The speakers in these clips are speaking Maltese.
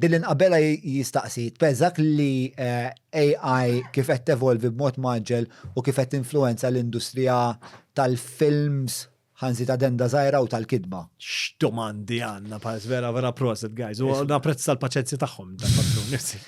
Billi nqabbelha jistaqsi, tbeżgħek li AI kif qed tevolvi b'mod mgħaġġel u kif qed tinfluwenza l-industrija tal-films, ħa nżid addenda żgħira, u tal-kitba? X'domandi għandna, pass, vera, vera proset, guys. U napprezza l-paċenzja tagħhom dan patrun, nifsi.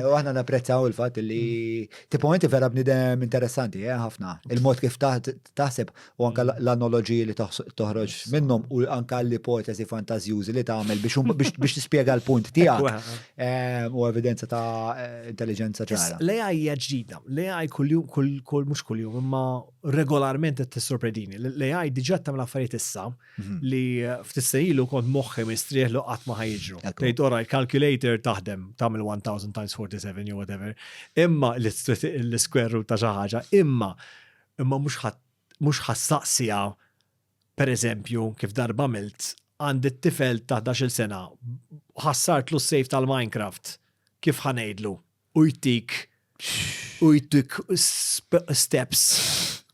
U aħna napprezzaw il-fatt li tipo inti vera bnidem interessanti, eh, ħafna. Il-mod kif taħt taħseb u anke l-analoġiji li toħroġ minnhom u anke l-ipoteżi fantażjużi li tagħmel biex tispjega l-punt tiegħek ehm, u evidenza ta' eh, intelligenza ċara. L-AI hija ġdida, l-AI kull mhux kuljum imma regolarment qed tissorpredini. L-AI diġà tagħmel affarijiet issa mhm. li ftissejlu kont moħħi mistrieħ li qatt ma ħajġru. Tgħid ora l-calculator taħdem tagħmel 1000 times 47 jew whatever. Imma l-square root ta' xi ħaġa, imma imma mhux ħa mhux ħa ssaqsiha, pereżempju, kif darba għamilt, għandi t-tifel ta' ħdax-il sena, ħassartlu s-save tal-Minecraft, kif ħa ngħidlu? U jtik u jtik steps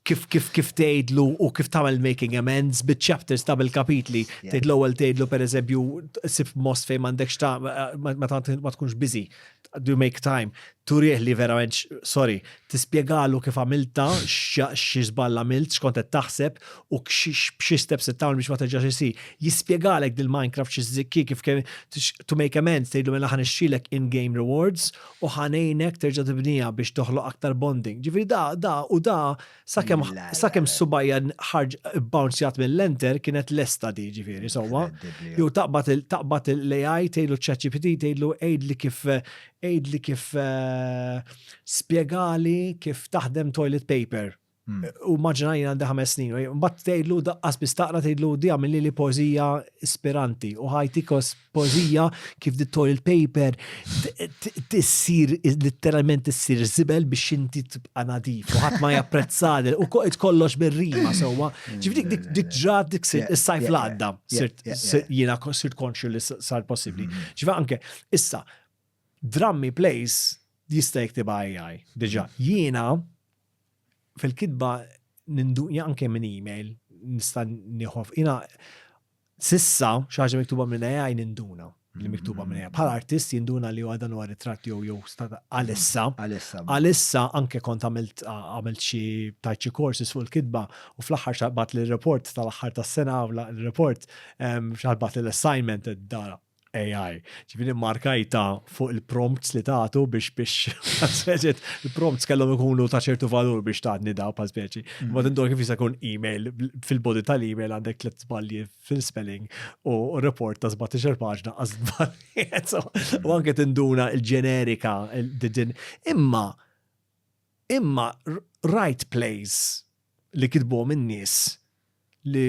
kif kif kif tgħidlu u kif tagħmel making amends biċ-chapters ta' bil-kapitli. Tgħid l-ewwel tgħidlu pereżempju sib most fejn m'għandekx ta' ma tkunx biżi. do you make time? Turih li verament, sorry, tispiegalu kif għamilta, xie zballa għamilt, xkont qed taħseb u xie steps qed tagħmel biex ma terġax isi. Jispjegalek dil Minecraft xi zikki kif kemm to make amends tgħidlu mela ħan ixxilek in-game rewards u ħanejnek terġa' tibnija biex toħloq aktar bonding. Ġifieri da da u da Sakemm sakemm subajja ħarġ bouncjat mill-enter kienet lesta di ġifieri sewwa. Jew taqbad taqbad l-AI tgħidlu ċ-ChatGPT tgħidlu għidli kif għidli kif eh, spjegali kif taħdem toilet paper. Hmm. U maġna jina għandi ħames snin, u bat tgħidlu daqqas bistaqra tgħidlu di għamilli li pożija ispiranti u ħajti kos poezija kif di toilet paper tissir letteralment tissir zibel biex inti tibqa' nadif u ħadd ma japprezzad u kollox bir-rima sewwa. Ġifri dik dik ġrat dik sir is-sajf l-għadda sirt jiena sirt konxju li sar possibbli. Mm-hmm. Ġifa anke issa drammi plays jista' jiktibha AI diġà. Mm-hmm. Jiena fil-kitba ninduqja anke minn email nista' nieħu jiena S'issa, xi ħaġa miktuba minn AI ninduna li miktuba minn AI. Bħala artist jinduna li huwa dan huwa ritratt jew jew stata għalissa. Għalissa. Għalissa anke kont għamilt għamilt xi tajt xi courses fuq il-kitba u fl-aħħar xaqbat li report tal-aħħar tas-sena l-report xaqbat li l-assignment dara. AI. Ġifiri markajta fuq il-prompts li tagħtu biex biex il-prompts kellhom ikunu ta' ċertu valur biex taħdni da pa' speċi. Mhm. Ma tindur kif jista' jkun email fil-body tal-email għandek tliet żbalji fil-spelling u report ta' 17 paġna għaż U anke tinduna il-ġenerika din. Imma imma right place li kitbu minn nies li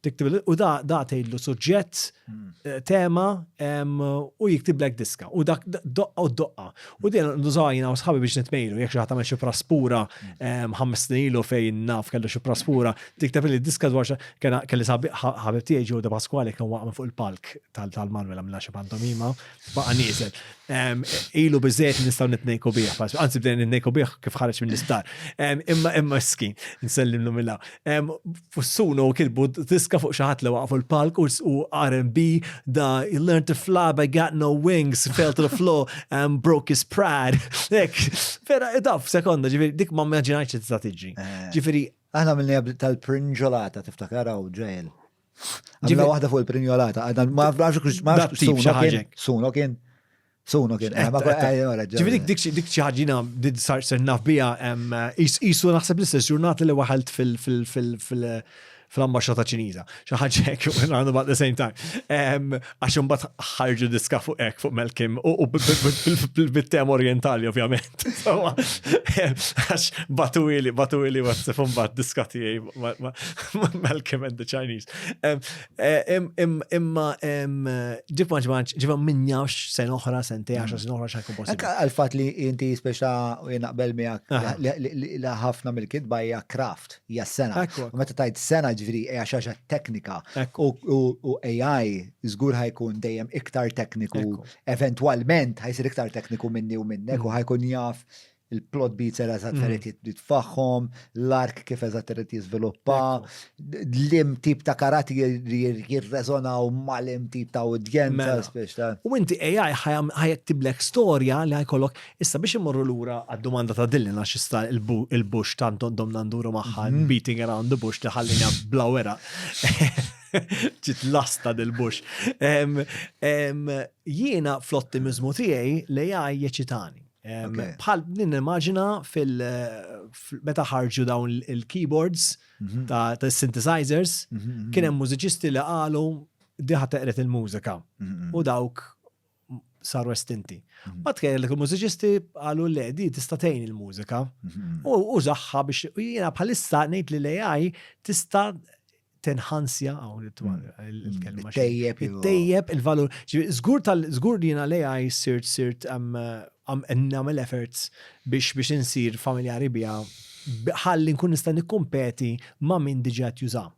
Tiktib u da da tgħidlu suġġett, eh, tema u jiktiblek diska u dak doqqa u doqqa. U din nużajna u sħabi biex nitmejlu jekk xi ħadd xi praspura ħames snin ilu fejn naf kellu xi praspura, tikteb li diska dwar kena kelli sabi ħabib tiegħi ġew da Pasquale kien waqgħu fuq il-palk tal-Malwela minn xi pantomima baqa' nieżel. Ilu bizzejt nistaw nitnejku bih, anzi bdejn nitnejku bih kif ħarġ minn l-isptar. Imma imma skin, nsellim l millaw. Fussunu u kilbu diska fuq xaħat li waqfu l-palk u R&B da he learned to fly but I got no wings, fell to the floor and broke his pride. Ek, vera, daf, sekonda, ġifiri, dik ma mmaġinajċ t-statiġi. Ġifiri. Aħna mill-li tal-prinġolata tiftakar għaw ġejl. Ġibla waħda fuq il-prinjolata, għadna ma għafrax kux ma għafrax kux sunu kien. Sunu kien. Sunu kien. Eh, eh, Ġibri dik dik ċaħġina did sar ser naf bija jisu naħseb l-istess ġurnata li waħalt fil- fil- fil- fil- fil-ambasċata ċiniża. Xi ħaġa hekk, għandu bad the same time. għax imbagħad ħarġu diska fuq hekk fuq Melkim u bit-tem orientali ovvjament. Għax batu ili, batu ili WhatsApp u mbagħad diska tiegħi Melkim and the Chinese. Eh, imma ġib maġmanċ, ġiba minn jawx sen oħra, sen te għax sen oħra xakku possibli. Ekka għal-fat li inti speċa u jenaqbel miegħek li ħafna mill-kitba hija kraft. hija s-sena. U meta tajt sena ġviri hija xi ħaġa teknika u AI żgur ħajkun dejjem iktar tekniku, eventwalment ħajsir iktar tekniku minni u minnek u ħajkun jaf il-plot beats era eżatt irid mm. jitfaħħom, l-ark kif eżatt irid jiżviluppa, l-im tip ta' karati jirreżonaw mal-im tip ta' udjenza, mela. speċta. U inti AI ħajektiblek storja li ħajkollok Issa biex immorru lura għad-domanda ta' Dylan għax issa il-bush tant domna nduru magħha mhm. beating around the bush li ħallina bla wera. Ġit lasta dil-bush. Jiena fl-ottimizmu tiegħi li jgħaj jeċitani. Bħal din immaġina fil meta ħarġu dawn il-keyboards mhm. ta' synthesizers, mhm, mhm, kien hemm mużiċisti li qalu diħa teqret il-mużika. U dawk saru estinti. Mhm. Ma tkejjel li il-mużiċisti għalu le di tista' tgħin il-mużika mhm. u użaħħa biex jiena bħalissa ngħid li l-AI tista' tenħansja għaw il-kelma. Tejjeb. Tejjeb il-valur. Zgur tal zgur li jena l-AI sirt sirt għam namel efforts biex biex insir familjari bija ħalli nkun nista' nikkumpeti ma' min diġà juża.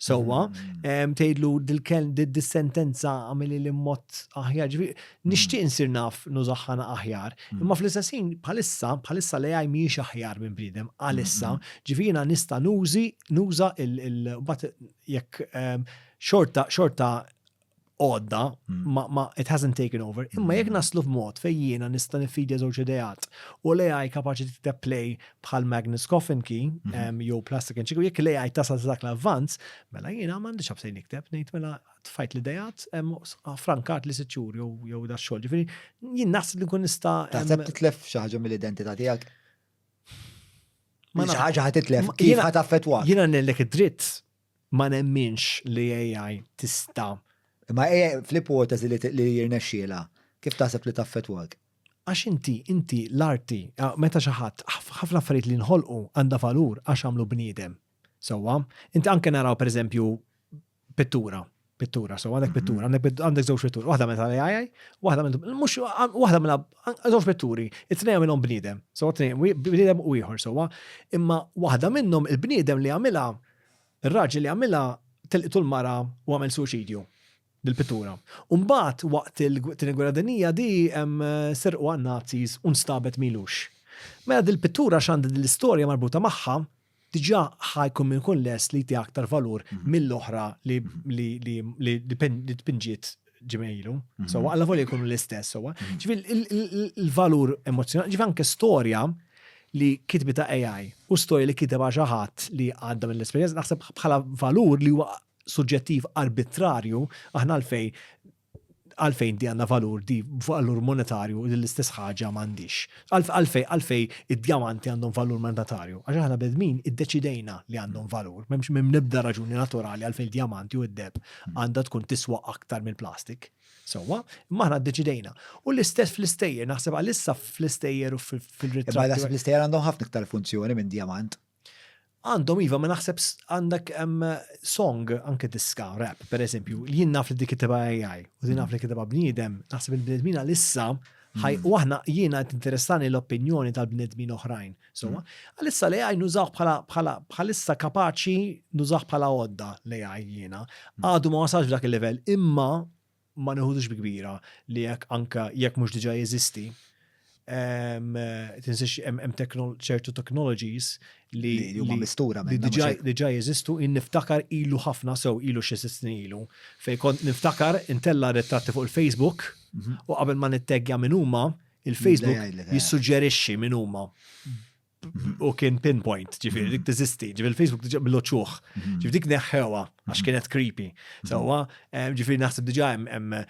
Sewwa, mm. tgħidlu dil-kelm dis-sentenza għamili li mod aħjar. Mm. Nixtieq insir naf nużaħħana aħjar. Mm. Imma fl-istessin bħalissa, bħalissa li għaj miex aħjar minn bridem, għalissa, ġifieri nista' nużi nuża il-bat jekk xorta xorta għodda, mm. ma, ma it hasn't taken over, imma jek mm. naslu f'mod fej jiena nista' nifidja żewġ ideat u li għaj kapaċi t-play bħal Magnus Coffin ki, mm-hmm. jew Plastic and Chico, jek li għaj tasal dak l-avvanz, mela jiena mandi xabsej nikteb, nejt mela tfajt li dejat, frankat li siċur jew da xogħol. Ġifieri jien naħseb li kun nista' Taħseb titlef xi ħaġa mill-identità tiegħek? Ma ħaġa ħad titlef, kif ħad affettwa? Jiena nellek id-dritt Ma nemminx li AI tista'. Imma AI fl-ipoteżi li jirnexxielha, kif taħseb li taffettwak? Għax inti, inti, l-arti, meta xi ħadd, ħafna affarijiet li nħolqu għandha valur għax għamlu bniedem. Sewwa? Inti anke naraw pereżempju pittura. Pittura, so għandek pittura, għandek żewġ pittura, waħda minn tal-AI, waħda minn mhux waħda minn żewġ pitturi, it-tnejn minnhom bniedem, so tnejn bniedem u ieħor sewwa, imma waħda minnhom il-bniedem li għamilha, ir-raġel li għamilha telqtu l-mara u għamel suċidju bil-pittura. Umbagħad waqt il-Tieni Gwerra Dinija di serqu għan-Nazis u nstabet milux. Mela dil-pittura x'għandha l-istorja marbuta magħha diġà ħa jkun min ikun lest li jti aktar valur mill-oħra li li tpinġiet ġimgħilu. So alla volja jkunu l-istess sewwa. Ġifieri il-valur emozzjonali, ġifieri anke storja li kitbi ta' AI u storja li kiteb xi ħadd li għadda mill-esperjenza naħseb bħala valur li huwa suġġettiv arbitrarju aħna għalfejn Għalfejn di għandha valur, di valur monetarju li l-istess ħaġa m'għandhiex? Għalfejn għalfejn id-djamanti għandhom valur monetarju? Għax aħna bnedmin iddeċidejna li għandhom valur. M'hemm l-ebda raġuni naturali għalfejn il-djamanti u d-deheb għandha tkun tiswa aktar mill-plastik. Sewwa, imma aħna ddeċidejna. U l-istess fl-istejjer, naħseb għalissa fl-istejjer u fil-ritratt. Imma naħseb l-istejjer għandhom ħafna iktar funzjoni minn djamant. Għandhom iva ma naħseb għandek song anke diska rap per eżempju li jien naf li dik kitibha AI u din naf li kitibha bniedem naħseb il-bniedmin għalissa ħaj u aħna jiena qed interessani l-opinjoni tal-bniedmin oħrajn. So mm. għalissa li AI nużaw bħala bħala bħalissa kapaċi nużaw bħala għodda li AI jiena. Mm. Għadu ma wasalx dak il-level imma ma neħudux bi kbira li jekk anka jekk mhux diġà jeżisti, tinsiex hemm ċertu technologies li huma mistura li diġà jeżistu in niftakar ilu ħafna sew ilu xi sitt snin ilu. Fej kont niftakar intella ritratti fuq il-Facebook mhm. u qabel ma nitteggja minn huma il-Facebook jissuġġerixxi minn huma. u kien pinpoint, ġifiri, dik tizisti, ġifiri Facebook diġa bloċuħ, mhm. ġifiri dik neħħewa, għax mhm. kienet creepy. Mhm. Sawa, eh, ġifiri naħseb diġa hemm eh,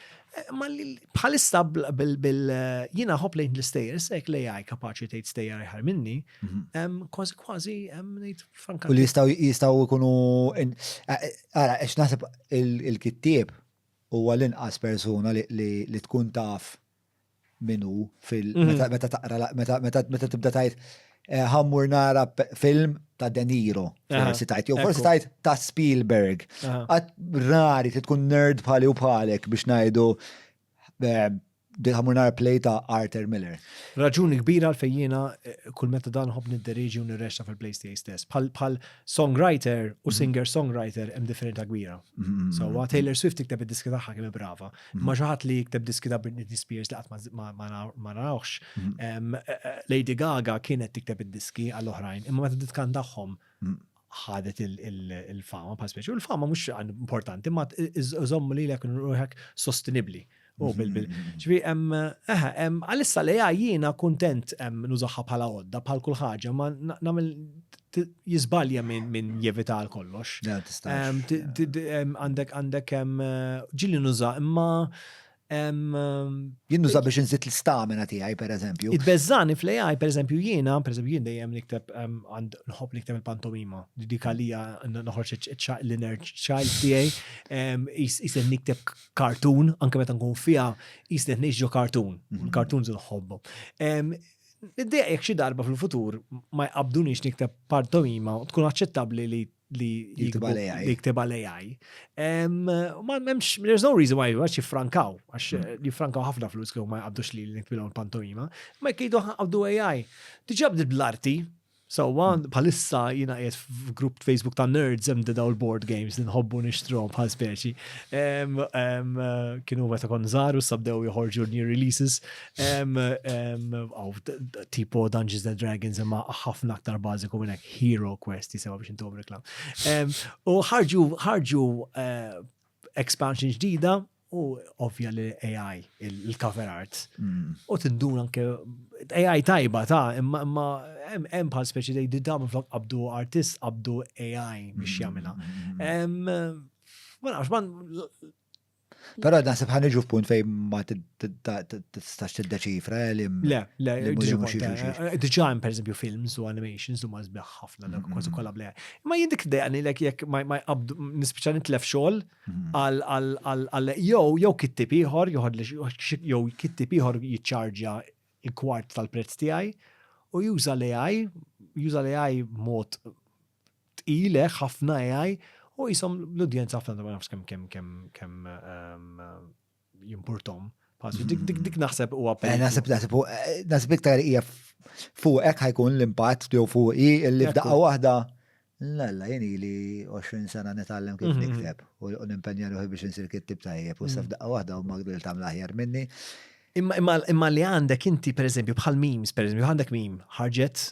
ma bħalissa bil jina hop lejn l-istejers, ek li għaj kapaċi tgħid stejjer ħar minni, kważi kważi ngħid franka. U li jistaw jistaw ikunu eh, ara għax naħseb il-kittieb huwa l-inqas persuna li tkun taf min hu fil mhm. meta taqra meta meta tibda tajt eh, ħammur nara film ta' De Niro, forsi tajt, jew forsi tajt ta' Spielberg. Għat rari ti tkun nerd bħali u bħalek biex najdu eh, ħammur nara play ta' Arthur Miller. Raġuni kbira għal-fejjina eh, kull meta dan hobni nid deriġi u nirrexta fil-play tiegħi stess. Bħal songwriter u mhm. singer-songwriter hemm differenta kbira. Mhm. So, Taylor Swift tikteb id-diski tagħha kemm brava. Ma xi ħadd li jikteb diski ta' Britney Spears li qatt ma narawx. Mhm. Lady Gaga kienet tikteb id-diski għal oħrajn, imma meta titkan tagħhom mhm. ħadet il-fama pa' speċi. U l-fama mhux importanti, ma iżomm li l-ek ruħek sostenibli. U mhm. bil-bil. ċvi, għalissa li jiena kontent nużaħħa bħala għodda, bħal kull ħaġa, ma namil jizbalja minn jevita għal kollox. Għandek għandek ġili nuża imma Jien nuża biex nżid l-stamina tiegħi pereżempju. Id-beżani fl-AI pereżempju jiena, pereżempju jien dejjem nikteb għand nħobb nikteb il-pantomima. Dik għalija noħorġ l-inner child tiegħi jisir nikteb kartun anke meta nkun fiha jisir ngħix ġo kartun. Kartun żin nħobbu. Niddeja jekk xi darba fil-futur ma jqabbduniex nikteb pantomima u tkun aċċettabbli li li jiktibha l-AI. There's no reason why għax jiffrankaw, għax hmm. jiffrankaw ħafna flus kif ma jqabdux li l-nikbilhom pantomima, ma jkidu għabdu AI. Diġa bdiet bl-arti, Sewwa, bħalissa jiena qiegħed f'grupp Facebook ta' nerds hemm daw il-board games li nħobbu nixtrom bħal speċi. Kienu meta kon żgħar u sabdew joħorġu new releases. Tipo Dungeons and Dragons imma ħafna aktar bażiku minn hekk Hero Quest jisimha biex intom reklam. U ħarġu ħarġu eh, expansion ġdida u ovvja li AI, il-cover arts, mm. u tindun anke AI tajba ta' imma imma hemm bħal speċi li jidda minn flok qabdu artist qabdu AI biex mm. jagħmilha. Mm. Ma nafx man Però naħseb ħan iġu f'punt fejn ma tistax tiddeċifra eh, li. Le, le, eh, diġa hemm pereżempju films u animations huma sbieħ ħafna dak kważi kollha bleha. Ma jindik dejqani lek jekk ma jqabdu nispiċċa nitlef xogħol għal jew jew kittib ieħor jew kittib ieħor jiċċarġja l-kwart tal-prezz tiegħi u juża l-AI, juża l-AI mod tqilek ħafna AI u jisom l-udjenza ħafna ma nafx kemm kemm kemm kemm ehm, jimpurtom. Dik naħseb u għapel. Eh, naħseb naħseb eh, naħseb iktar hija fuqek ħajkun l-impatt jew fuqi li f'daqqa waħda Lalla, jeni li 20 sena nitallem kif mhm. nikteb u nimpenja ruħi biex nsir kittib tajjeb u mhm. saf daqqa wahda u magdil tam laħjar minni. Imma li għandek inti, per eżempju, bħal memes, per eżempju, għandek mim, ħarġet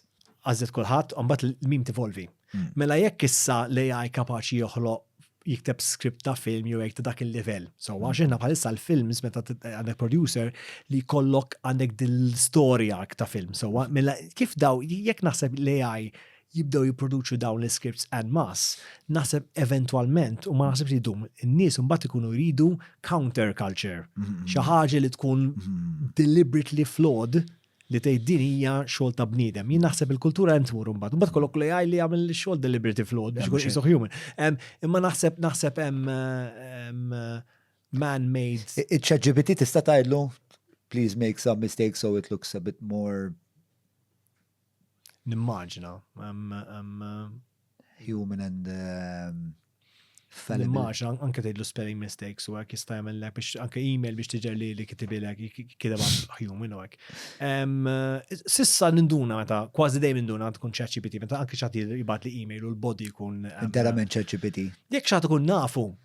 għażlet kulħadd, u mbagħad l-mim tivolvi. Hmm. Mela jekk issa l-AI kapaċi joħloq jikteb skript ta' film jew jekk ta' dak il-livell. So għax hmm. aħna bħalissa l-films meta għandek producer li kollok għandek din l-istorja ta' film. So mela kif daw jekk naħseb l-AI jibdew jipproduċu dawn l-scripts and mass, naħseb eventualment u ma naħseb li dum, n-nies mbagħad ikunu jridu counter culture. Hmm. Xi ħaġa li tkun deliberately flawed li tgħid din hija xogħol ta' bniedem. Jien naħseb il-kultura hemm tmur imbagħad. Imbagħad kollok li jgħid li jagħmel xogħol deliberati flawed biex ikun qisu human. Imma naħseb naħseb hemm man-made. Iċ-ChatGPT tista' tgħidlu please make some mistakes so it looks a bit more. Nimmaġina. human and um, fallible. Immaġ, anke tgħidlu spelling mistakes u hekk jista' jagħmellek biex anke email biex tiġer li li kitibilek kideb human u hekk. Eh, sissa ninduna meta kważi dejjem ninduna tkun ChatGPT meta anke xagħti jibgħat li email u l-body jkun. Interament ChatGPT. Jekk xagħti tkun nafu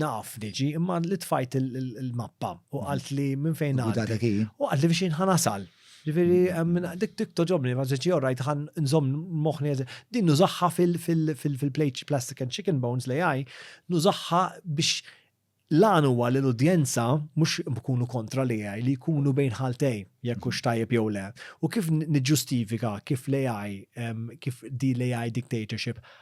Naf diġi, imma li tfajt il-mappa u għalt li minn fejn għadda. U għalt li biex jinħan asal. Ġifiri, mm, dik dik toġobni, ma ġeċi orrajt għan nżom moħni Din nużaxħa fil-plate plastic and chicken bones li għaj, nużaxħa biex l-għan huwa li l-udjenza mux bkunu kontra li għaj, li jkunu bejn ħaltej, jekk ux tajjeb jew le. U kif nġustifika, kif li għaj, kif di li għaj dictatorship,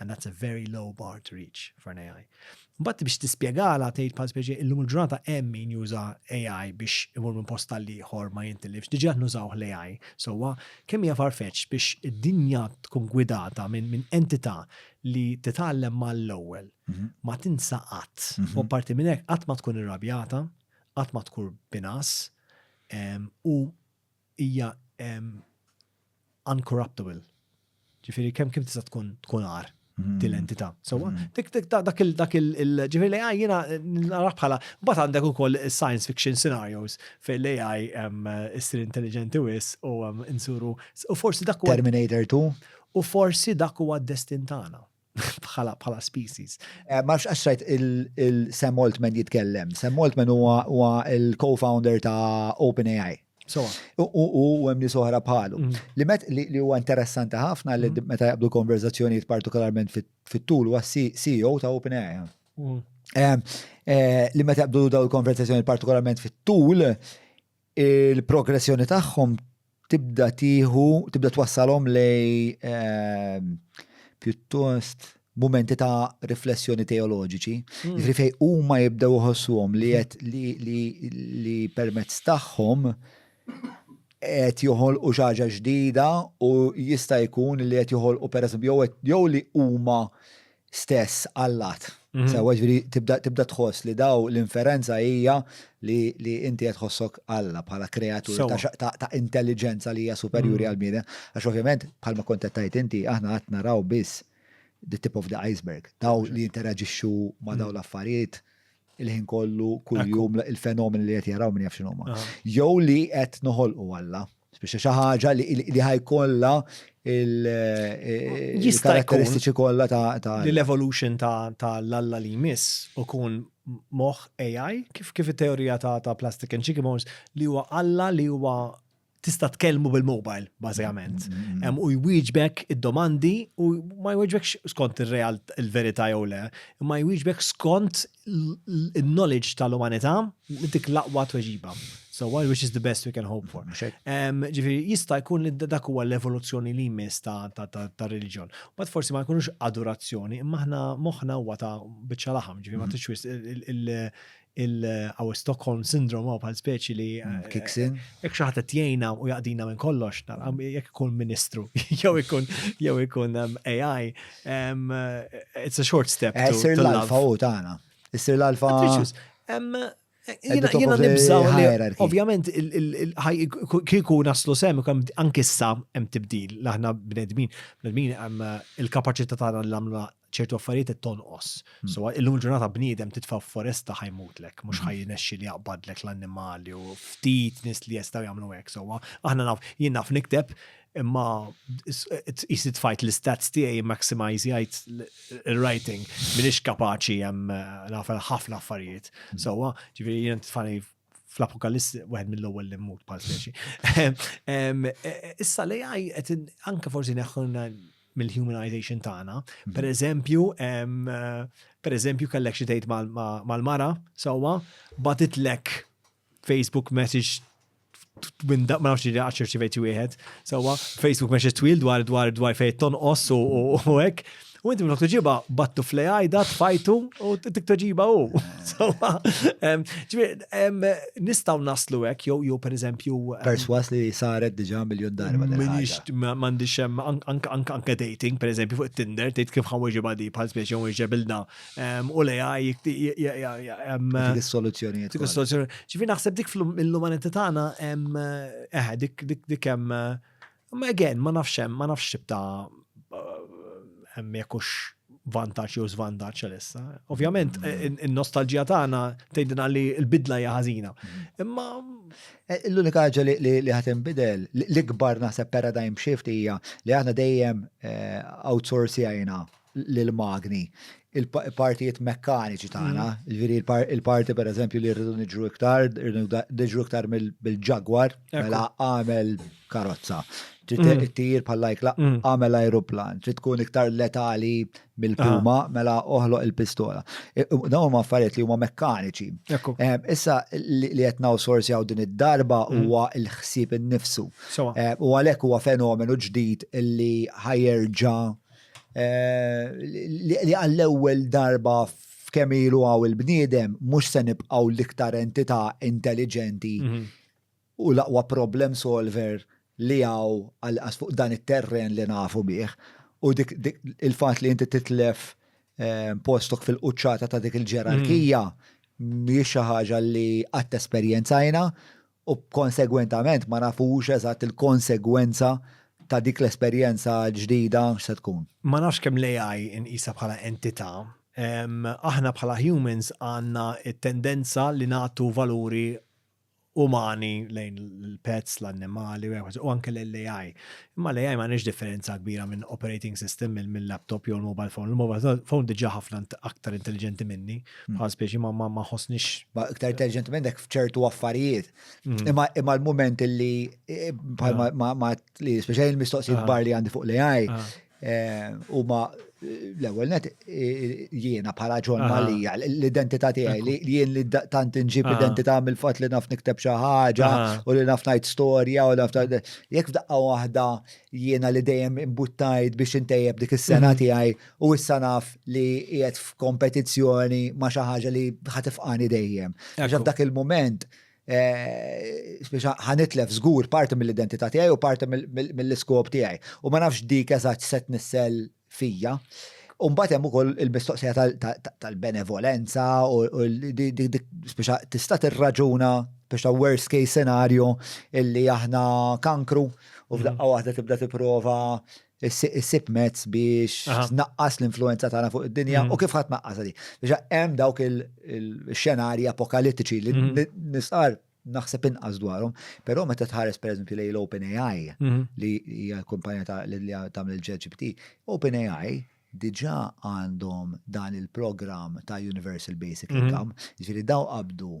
And that's a very low bar to reach for an AI. Mbagħad biex tispjegala tgħid bħal speċi illum il-ġurnata hemm min juża AI biex imur minn post tal ieħor ma jintilifx, diġà nużaw l-AI. Sewwa kemm hija farfetx biex id-dinja tkun gwidata minn min entità li titgħallem mal-ewwel mhm. ma tinsa qatt. Mhm. U parti minn hekk qatt ma tkun irrabjata, qatt ma tkun binas u hija uncorruptible. Ġifieri kemm kif tista' tkun tkun għar mm-hmm. din l-entità. Sewwa mm-hmm. dak il dak il ġifieri l-AI jiena nara bħala mbagħad għandek ukoll science fiction scenarios fejn l-AI issir intelligenti wis u insuru u forsi dak Terminator 2 u forsi dak huwa d-destin tagħna. bħala bħala species. Eh, ma nafx għaxrajt il-Sam Altman jitkellem. Sam Altman huwa il-co-founder ta' OpenAI. So, u hemm nies oħra bħalu. Mm. Li met li huwa interessanti ħafna li mm. meta jaqbdu konverzazzjonijiet partikolarment fit-tul huwa CEO ta' OpenAI. Mm. Eh, eh, li meta jaqbdu daw il-konverzazzjoni partikolarment fit-tul il-progressjoni tagħhom tibda tieħu, tibda twassalhom lej ehm, pjuttost mumenti ta' riflessjoni teoloġiċi, hmm. jiġri fej huma jibdew uħossuhom li qed li permezz tagħhom qed joħolqu xi ħaġa ġdida u jista' jkun li qed joħolqu pereżempju jew jew li huma stess allat. Sewa ġviri tibda tħoss li daw l-inferenza hija li inti qed tħossok Alla bħala kreatur ta' intelligenza li hija superjuri għal bniedem. Għax ovvjament bħalma kont qed tgħid inti aħna qatt naraw biss the tip of the iceberg. Daw li jinteraġixxu ma' daw l-affarijiet il-ħin kollu kuljum il-fenomen li qed jaraw minn jaf x'inhuma. Jew li qed noħolqu Alla. Spiċċa xi ħaġa li ħajkollha il-karatteristiċi kollha ta' l-evolution ta' l-alla li jmiss u kun moħ AI kif kif it-teorija ta' plastic and chicken bones li huwa alla li huwa tista' tkellmu bil-mobile bażikament. Mm-hmm. U jwieġbek id-domandi u ma jwieġbekx skont ir-real il-verità jew le, ma jwieġbek skont il-knowledge tal-umanità dik l-aqwa tweġiba. So what which is the best we can hope for. Ġifieri jista' jkun li dak huwa l-evoluzzjoni li jmiss ta' reliġjon. Bad forsi ma jkunux adorazzjoni, imma aħna moħħna huwa ta' biċċa laħam, ġifieri ma tixwis il-għaw Stockholm syndrome għaw bħal speċi li. Mm, eh, Kiksin. Jek xaħat tjajna u jaqdina minn kollox, jek ikun ministru, jew ikun jew ikun um, AI, It's a short step. Eh, sir l-alfa u tana. Sir l-alfa. Jina nibżaw li, ovvjament, kiku naslu sem, anki sa hemm tibdil, laħna bnedmin, bnedmin hemm eh, il-kapacità tagħna li għamlu ċertu affarijiet qed tonqos. Hmm. So illum ġurnata bniedem titfa' foresta ħajmutlek, mhux hmm. ħajnexxi li jaqbadlek l-annimali u ftit nis li jistgħu jagħmlu hekk. So aħna naf jien naf nikteb Imma jisni tfajt l-istats tiegħi maximizjajt il-writing. Minix kapaċi jem nafel ħafna affarijiet. Mm. Sowa, ġifiri jen tfani fl-apokaliss wieħed mill-ewwel li mmut bħal speċi. Issa li għaj qed anke forsi neħħulna mill-humanization tagħna. Mhm. Per eżempju, per eżempju kellek xi tgħid mal-mara sewwa batitlek Facebook message minn ma nafx li għaxir ċivejt wieħed, sawa Facebook message twil dwar dwar dwar fejn tonqos u hekk. U inti minn ġiba battu fl għajda tfajtu u tik toġiba u. Sawa, nistaw naslu hekk jew jew pereżempju. Perswas li saret diġà miljon darba. Minix m'għandix anke dating pereżempju fuq Tinder tgħid kif ħaweġiba di bħal spiex jew iġebilna u li għaj dik is-soluzzjoni. Dik is-soluzzjoni. Ġifi naħseb dik fl-umanità tagħna hemm eħe dik dik hemm ma again ma nafx hemm ma nafx tibta hemm jekux vantaġġ jew żvantaġġ għalissa. Ovvjament mm. in-nostalġija tagħna tgħidilna li l-bidla hija ħażina. Mm. Imma e, l-unika ħaġa li ħadd inbidel l-ikbar naħseb paradigm shift hija li aħna dejjem e, outsourcing l-magni, il-partijiet mekkaniċi tagħna, ġifieri il-parti pereżempju li rridu niġru iktar, rridu niġru iktar mill-ġagwar, mela għamel karozza. Trid mm. ttir bħal lajkla mm. għamel aeroplan, trid tkun iktar letali mill-puma, ah. mela oħloq il-pistola. Dawn huma affarijiet li huma mekkaniċi. Issa li qed nawsorsjaw din id-darba mm. huwa l-ħsieb innifsu. U għalhekk huwa fenomenu ġdid illi ħajerġa' li għall-ewwel darba f'kemm ilu għaw il-bniedem mhux se nibqgħu l-iktar entità intelligenti mhm. u l-aqwa problem solver li għaw għal fuq dan it-terren li nafu bih. U dik il-fatt li inti titlef eh, postok fil-quċċata ta' dik il-ġerarkija mhm. mhijiex xi ħaġa li qatt esperjenzajna u konsegwentament ma nafux eżatt il-konsegwenza ta' dik l-esperjenza ġdida x'se tkun. Ma nafx kemm l-AI inqisha bħala entità. Aħna bħala humans għandna t-tendenza li nagħtu valuri umani lejn il-pets, l-annimali u anke lejn l-AI. Imma l-AI ma nix differenza kbira minn operating system minn laptop jew mobile phone. Il-mobile phone diġa ħafna aktar intelligenti minni, hmm. bħal spiex ma ma ħosnix. Aktar intelligenti minnek fċertu affarijiet. Hmm. Imma imma l-moment li eh, bħal ma ah. li speċjali l-mistoqsijiet ah. bar li għandi fuq l-AI ah. eh, u ma L-ewwel net jiena bħala John Malija, l-identità tiegħi li jien li tant inġib identità mill-fatt li naf nikteb xi ħaġa u li naf ngħid storja u naf jekk f'daqqa waħda jiena li dejjem imbuttajt biex intejjeb dik is-sena mhm. tiegħi u issa naf li qiegħed f'kompetizzjoni ma' xi ħaġa li ħatifqani dejjem. Għax f'dak il-mument Eh, Spiċa ħanitlef żgur parti mill-identità tiegħi u parti mill-iskop tiegħi. U ma nafx dik eżatt se tnissel fija. Umbat hemm ukoll il-mistoqsija tal-benevolenza u spiċa tista' tirraġuna biex ta' worst case scenario illi aħna kankru u f'daqqa waħda tibda tipprova issib mezz biex tnaqqas l-influenza tagħna fuq id-dinja mm. u kif ħadd naqqas għadi. Biex hemm dawk il-xenarji apokalittiċi li mm. nisqar naħseb inqas dwarhom, però meta tħares pereżempju lejn l-OpenAI mm. li hija kumpanija ta' li tagħmel il-GPT, OpenAI diġà għandhom dan il-programm ta' Universal Basic Income, ġifieri daw qabdu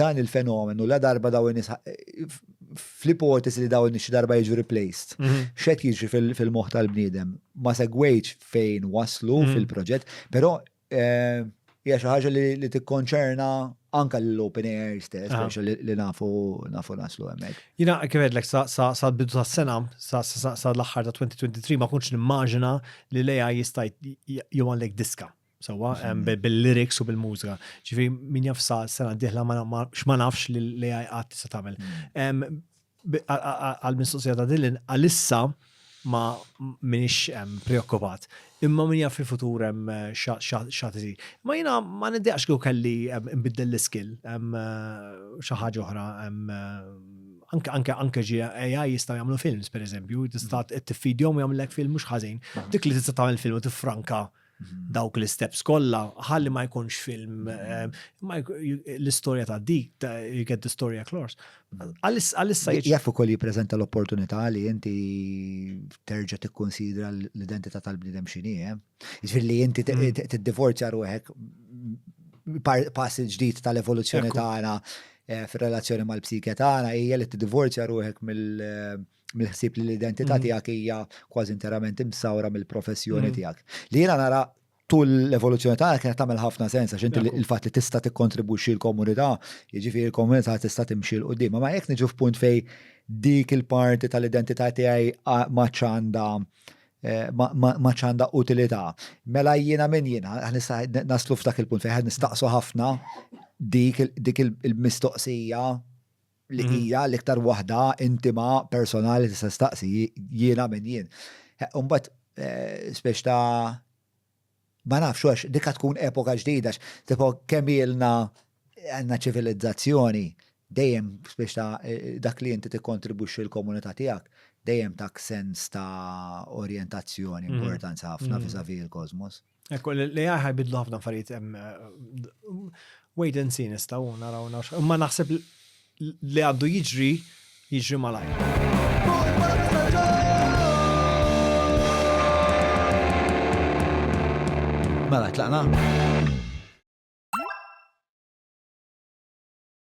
Dan il-fenomenu la darba daw in-nies fl-ipotesi li daw in-nies darba jiġu replaced. Mhm. X'qed jiġri fil-moħħ tal-bniedem? Ma segwejtx fejn waslu mhm. fil-proġett, però eh, hija xi ħaġa li tikkonċerna anka l-open air stess, ah. li nafu nafu naslu hemmhekk. Jina kifedlek sa bidu ta' sena, sa l-aħħar ta' 2023 ma kunx nimmaġina li leja jista' jgħu għandek diska. Sawa, bil-lyrics u bil-mużika. Ġifi, min jaf sa' sena diħla x'ma nafx li l-AI għat tista' tagħmel. Mm. Għal-mistoqsija ta' Dylan, għalissa ma minix preokkupat. Imma min jaf fil-futur hemm eh, xat iżi. Ma jina ma niddeqx kieku kelli nbiddel l-iskill, eh, xi ħaġa oħra, eh, anke ġi AI jistgħu jagħmlu films pereżempju, tista' mm. tiffidjhom u jagħmlek film mhux ħażin. Mm. Dik li tista' tagħmel film u tifranka. franka dawk l-isteps kollha ħalli ma jkunx film l-istorja ta' dik you get the story across. Għalissa jaf ukoll jippreżenta l-opportunità li inti terġa' tikkonsidra l-identità tal-bniedem x'inhi, eh? jiġifieri li inti mm. tiddivorzja ruħek pass il-ġdid tal-evoluzzjoni tagħna eh, fir-relazzjoni mal-psike tagħna hija li tiddivorzja ruħek mill- mill-ħsieb li l-identità mm. tiegħek hija kważi interament imsawra mill-professjoni mm. tiegħek. Li jiena nara tul l-evoluzzjoni ta' kienet tagħmel ħafna sens għax inti il-fatt li tista' tikkontribwixxi l-komunità, jiġifieri l-komunità tista' timxi l qudiem ma jekk niġu f'punt fej dik il-parti tal-identità tiegħi ma ċanda eh, ma ċanda utilità. Mela jiena minn jiena, naslu f'dak il-punt fejn nistaqsu ħafna dik il-mistoqsija li hija l-iktar waħda intima, personali li tista' staqsi jiena minn jien. Imbagħad spex ta' ma nafx għax dikha tkun epoka ġdida tipo kemm ilna għandna ċivilizzazzjoni dejjem spex ta' dak li inti tikkontribwixxi l-komunità tiegħek dejjem tak sens ta' orjentazzjoni importanza ħafna vizavi l-kosmos. Ekku, l-AI ħajbidlu ħafna affarijiet hemm eh, wait and see nistgħu naraw naraw. Imma naħseb li għandu jiġri jiġri malajr. Mela, tlaqna?